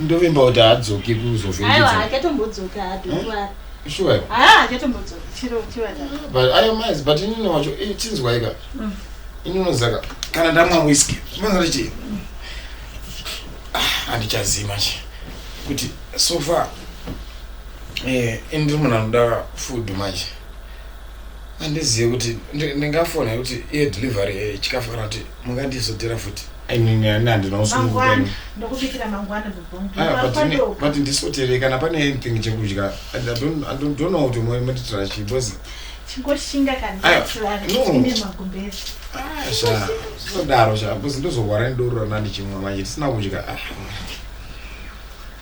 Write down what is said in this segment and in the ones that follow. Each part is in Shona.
ndovimba kuti haadzoki kuzovhindudzaaayo maizi but inini wacho eh, chinzwaika mm. inonozaka kana ndamwa whisky zvinonzati chii ah, handichazima chi kuti so far eh, ini ndiri munhu anoda food manje handizive kuti ndingafona kuti iye delivery eh, chikafanira kuti mungandizodira futi inini ani handina usungukwenu but ndisoterei kana pane anything chekudya idono kuti moitira chii because zvinodaro sha because ndozorwara nedoro rana ndichimwa manje tisina kudya ah.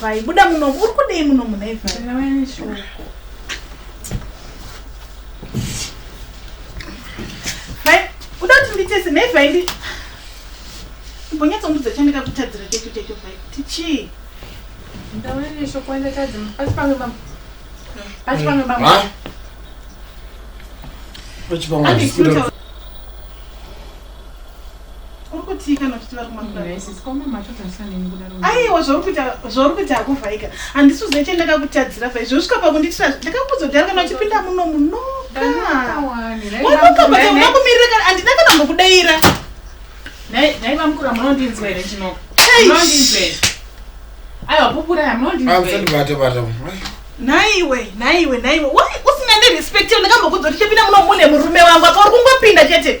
Vai, buda muno, uri kudei muno muna ifa. Vai, uda kuti nditese nei vai ndi mbonyatsondudza chandakakutadzira checho checho vai kuti chii? Ndawe neshoko ndakadzi pasi pamwe bambo. Pasi pamwe bambo. Pasi pamwe bambo. uri kutii kana uchiti vari kumaaiwa zvauri kuita hakuvhaika handisi uzive che ndakakutadzira vha izvo svika pakunditira ndakakuzodhara kana uchipinda muno munokaaakumirira kana handina kana mbokudaira naiwe naiwe naiwe usina ndirespect ndakambokudza kuti chepinda muno mune murume wangu apa uri kungopinda chete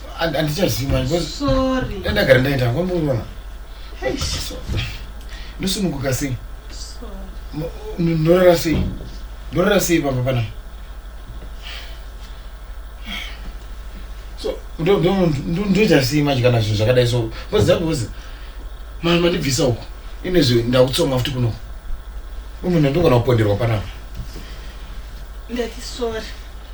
andichaziva ndagara ndaita kwamboona ndosununguka sei ndorara sei ndorara sei pamba pana ndoita sei manje kana zvinhu zvakadai so kozakozi mama mandibvisa uko inezve ndakutsoma futi kuno umene ndogona kuponderwa panapa ndati sorry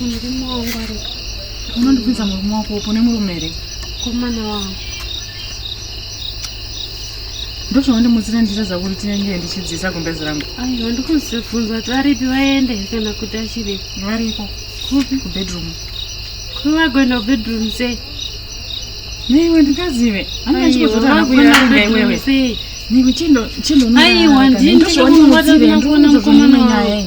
murume wangu ari unondibvunza murume wako upo nemurume here komana wangu ndozvawandimutsira ndiita zvakuti tinenge ndichidzisa gumbezi rangu aiwa ndikuzivhunza kuti varipi vaende kana kuti achiri variko kupi kubedroom kuvagoenda kubedroom sei neiwe ndingazive anaachikozotana kuyaenda iwewe Niko chindo chindo nuna. Aiwa ndini ndinokuona kuona mukomana waye.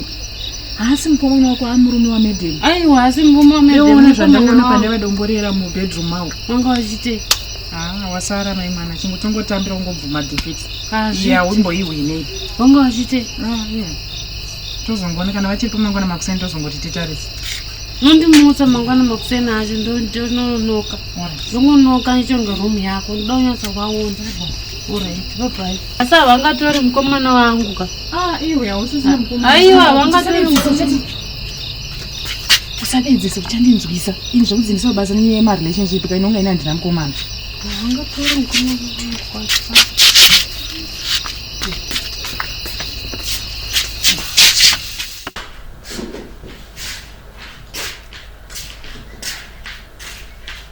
Haasi mukomana wako amurume wa madam. Aiwa haasi mukomana wa madam. Unaona zvandaona pane vadongorera mu bedroom mawo. Wanga wachite. Ah, wasara mai mwana chingo tongotambira ungobvuma defeat. Ah, zviya wimboihwine. Wanga wachite. Ah, yeah. Tozongoona kana vachiri pamangwana makuseni tozongoti titarise. nondimutsa mangwana makuseni acho ndononoka ndongonoka ichonge room yako ndoda kunyatsa kwaona Asi havangatori mukomana wangu ka. Ah, iwe hausisina mukomana. Aiwa, havangatori mukomana. Usadedzese kuchandinzwisa. Ini zvekudzi ndisobasa nenyaya yema relationship ka inonga ina ndina mukomana. Havangatori mukomana wangu kwacha.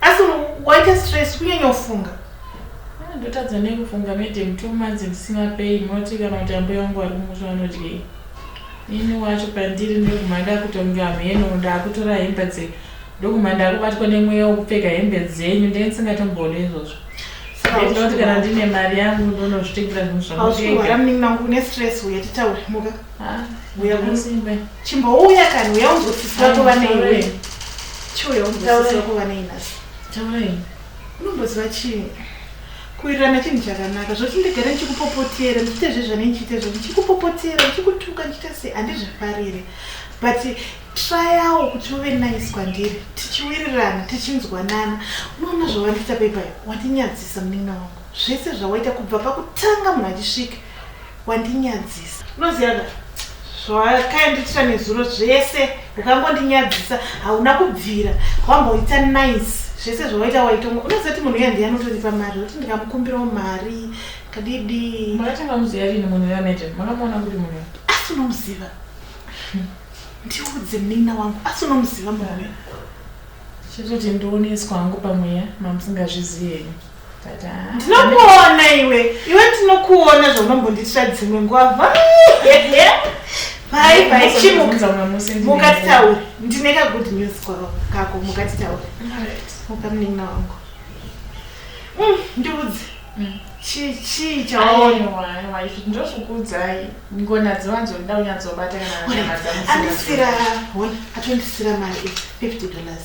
asi waita stress kunyanya kufunga ah, ndotadza nekufunga madam two months ndisina pay munoti kana kuti ambuya wangu vari kumusha vanodyei ini wacho pandiri ndokuma ndakutonga mheno ndakutora hembe dze ndokuma ndakubatwa nemweya wekupfeka hembe dzenyu ndee ndisingatombone izvozvo ndinoti kana ndine mari yangu ndonozvitengera zvinhu zvamutenga chimbouya kani uya umbosisira kuva neiwe chiuya umbosisira kuva neinasi taurai unomboziva chii kuwirirana chinhu chakanaka zvoti ndigare ndichikupopotera ndichiite zvezvane ndichiite zvo ndichikupopotera ndichikutuka ndichiita sei handizvifarire but trayawo kuti uve nice kwandiri tichiwirirana tichinzwanana unoona zvawandiita paipai wandinyadzisa munin'ina wangu zvese zvawaita kubva pakutanga munhu achisvika wandinyadzisa unoziva ka zvawakaendiitira nezuro zvese ukangondinyadzisa hauna kubvira wamboita nice zvese zvawaita waitonga unoziva kuti munhu uya ndiye anotoripa mari kuti ndikamukumbirawo mari kadidi makatanga muziva rini munhu uya mete makamuona kuti munhu uya asi unomuziva ndiudze munin'ina wangu asi unomuziva munhu uya chitoti ndioneswa hangu pamweya mamusingazvizivi henyu ndinokuona iwe iwe ndinokuona zvaunombondiitira dzimwe nguva vai vai chimukatitaure ndine kagood news kako mukatitaure mukamunin'ina wangu mm, ndiudze mm. chii chii chawaonndozvikuudzai ngona dzivanzo nda unyadzobata kanaandisira atondisira mari fifty dollars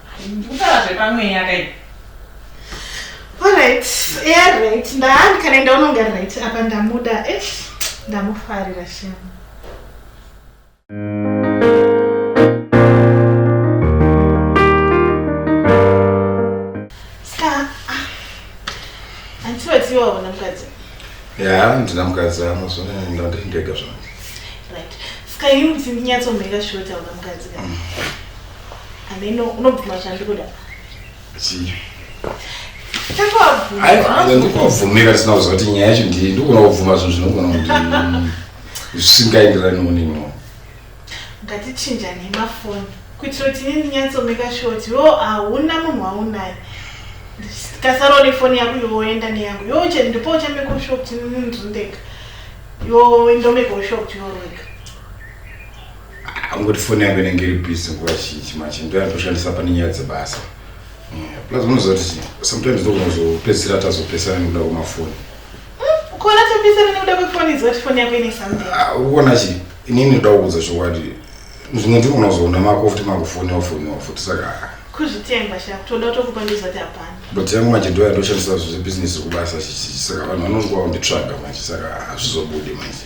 Ndikutaura zvepamweya kai. Alright, yeah right. Ndahani kana enda unonga right apa ndamuda. Eh, ndamufarira shema. Ska. ah, Hanti vatiwa wona mukadzi. ya ndina mukadzi ano zvone ndandiri ndega zvangu Right. Ska yini kuti ndinyatsombeka shoti auna mukadzi kana. Ameno unobvuma zvandikuda. Zii. Takabvuma. Aiwa, aiwa, ndikubvumira sina kuziva kuti nyaya yacho ndii ndikuona kubvuma zvinhu zvinogona kuti mm, zvisingaenderani munini. Ngatichinja nemafoni kuitira kuti ini ndinyatsomeka sure kuti yo hauna munhu waunaye. Ndikasarawo nefoni yako iwe woenda neyangu. Yo che ndipo uchameka ushure kuti ini ndiri ndega. Yo ndomeka ushure kuti iwe uri wega. angoti foni yangu inenge iri busy nguva zhinji manje ndoyandoshandisa pane nyaya dzebasa plus unozoti sometimes ndokuzopedzisira tazopesana nekuda kwemafoni kona topesana nekuda kwefoni izoti foni yako ine something ah, ukona chi inini ndoda kuudza chokwadi zvimwe ndiri kunozoona mako futi makufoniwa foniwa futi saka ah. kuzvitenga sha toda tokupa ndizoti hapana but yangu manje ndoya ndoshandisa zvezebhizinesi kubasa saka vanhu vanongoa kunditsvaga manje saka hazvizobudi manje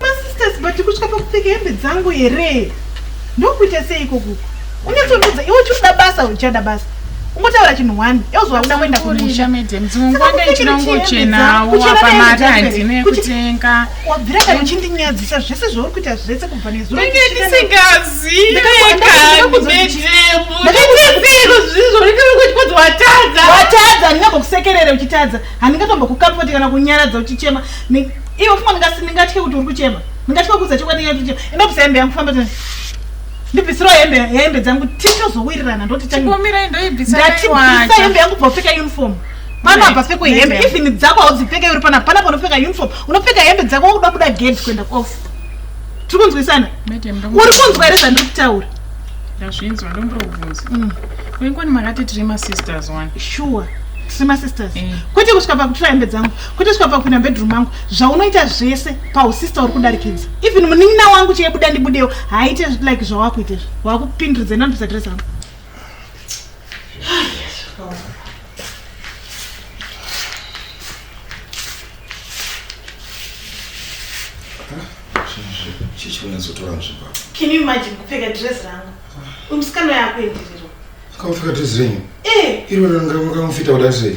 Masisters but kutya pakupfeka hembe dzangu here? Ndokuita sei ikoku? Unyatsondudza iwe uchida basa uchada basa. Ungotaura chinhu one. Yozwa uda kuenda kumusha. Madam, dzingwanda ichinongochena wapa mari handine kutenga. Wabvira kana uchindinyadzisa zvese zvauri kuita zvese kubva nezuro. Ndenge ndisingazive kana ndetemo. Ndakakuzviro zvizvo ndikanga kuchikudzi watadza. Watadza ndingakusekerera uchitadza. Handingatombokukapote kana kunyaradza uchichema. Iwe fuma ndingasi ndingatye kuti uri kuchema. Ndingatye kuuza chokwadi nyaya kuti enda kubvisa hembe yangu famba tena. Ndibvisirawo hembe hembe dzangu tichozowirirana ndoti chani. Chikomira indoibvisa Ndati bvisa hembe yangu bvopfeka uniform. Pana apa pfeko hembe even dzako haudzipfeka uri pana pana panopfeka uniform. Unopfeka hembe dzako wakuda kuda gate kuenda off. Tiri kunzwisana? Uri kunzwa here zvandiri kutaura? Ndazvinzwa ndombobvunza. Mm. Kwengoni makati tiri masisters one. Sure. Tiri masisters. Eh. Kwete kusvika pakutura hembe dzangu. kwete svikabva kupinda mbedroom mangu zvaunoita zvese pausista uri kudarikidza even munin'ina wangu cheye buda ndibudewo haaite like zvawakuita izvo wakupindiridza inanopisa dress rangu Can you imagine kupfeka dress rangu umusikana yakuendererwa akapfeka dress renyu eh. iro rangu rakamufita kudari sei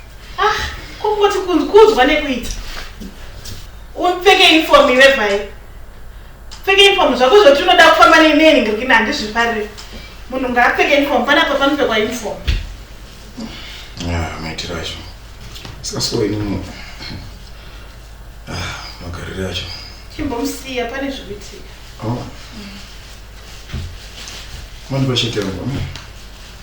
Ah, kungoti kunzwa nekuita. Upfeke uniform iwe bhai. Pfeke uniform zvako zvoti unoda kufamba neinei ngirikina handizvifarire. Munhu ngaapfeke uniform pana pa panopfekwa uniform. Ah, maitiro acho. Saka so ini ah, magariro acho. Chimbomusiya pane zvikuitika. Oh. Mm. Mandi bashekera ngoma.